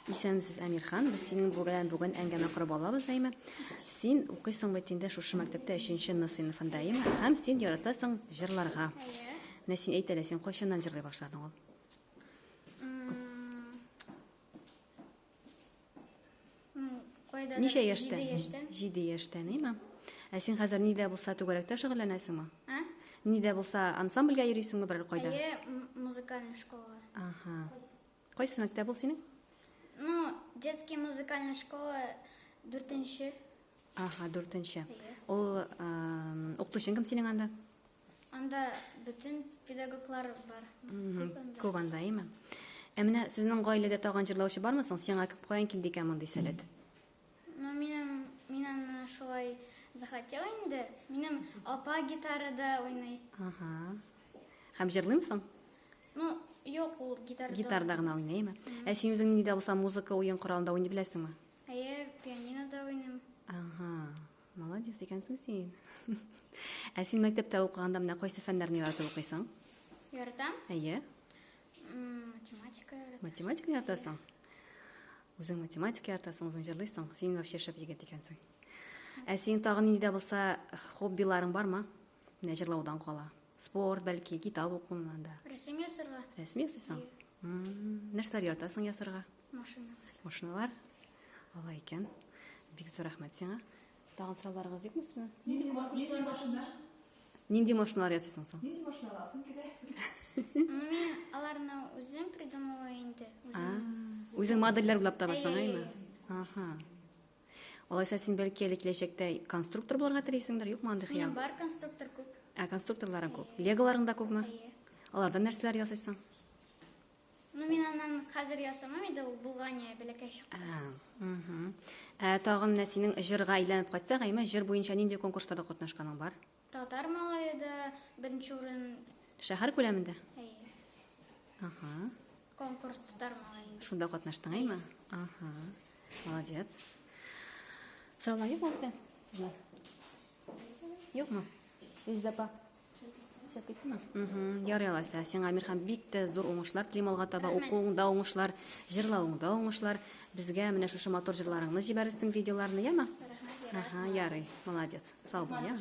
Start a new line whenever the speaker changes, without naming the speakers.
Исәнмесез, Әмирхан. Без синең белән бүген әңгәмә корып алабыз, әйме? Син укыйсың бит инде шушы мәктәптә 3 Н сыйныфында, әйме? Һәм син яратасың җырларга. Менә син әйт әле, син кайчаннан җырлый башладың ул? Ничә яшьтән? Җиде яшьтән. Җиде яшьтән, әйме? Ә син хәзер нидә булса түгәрәктә шөгыльләнәсеңме? Ә? Нидә булса ансамбльгә йөрисеңме берәр кайда? Әйе, музыкальный школага. Ага. Кайсы мәктәп ул синең? Ну, детский музыкальный школа дүртенче. Ага, дүртенче. Ул укытучың кем синең анда? Анда бөтен педагоглар бар. Күп анда, әйме? Ә менә сезнең гаиләдә тагын җырлаучы бармы соң? Сиңа каян килде икән мондый сәләт? Ну, минем, мин аны шулай захотела инде. Минем апа гитарада уйный. Ага. Һәм җырлыймсың? Ну, юк, ул гитарада. Гитарда гына уйный, әйме? Ә син үзең нидә булса музыка уен коралында уйный беләсеңме? Әйе, пианинода уйныйм. Ага. Молодец икәнсең син. Ә син мәктәптә укыганда менә кайсы фәннәрне яратып укыйсың? Яратам. Әйе. Математика яратам. Математика яратасың? Үзең математика яратасың, үзең җырлыйсың. Син вообще шәп егет икәнсең. Ә синең тагын нинди дә булса хоббиларың бармы? Менә җырлаудан кала. Спорт, бәлки, китап укуны да. Рәсем ясарга. Рәсем ясыйсың? Нәрсәләр яратасың ясарга? Машиналар. Машиналар? Алай икән. Бик зур рәхмәт сиңа. Тагын сорауларыгыз юкмы сезнең? Нинди конкурслар башында? Нинди машиналар ясыйсың соң? Нинди машина аласың килә? Мин аларны үзем придумала инде. Үзем. Үзең модельләр уйлап табасың, әйме? Аха. Алайса син бәлки әле киләчәктә конструктор булырга телисеңдер, юкмы андый хыял? Бар конструктор күп. Ә конструкторларың күп. Леголарың да күпме? Алардан нәрсәләр ясыйсың? Ну, мин аннан хәзер ясамам инде, ул Булгания бәләкәй чакта. Ә, тагын менә синең җырга әйләнеп кайтсак, әйме, җыр буенча нинди конкурсларда катнашканың бар? Татар малае да беренче урын. Шәһәр күләмендә? Әйе. Ага. Конкурс татар малае. Шунда катнаштың, әйме? Ага. Молодец. Сорала юк вакытта сезгә? Юкмы? Иззапа. Ярый алайса, сиңа Мирхан бик тә зур уңышлар телим алга таба, укуыңда уңышлар, җырлавыңда уңышлар. Безгә менә шушы матур җырларыңны җибәрерсең, видеоларны, яме? Рәхмәт, ярый. Ага, ярый. Молодец. Сау бул, яме?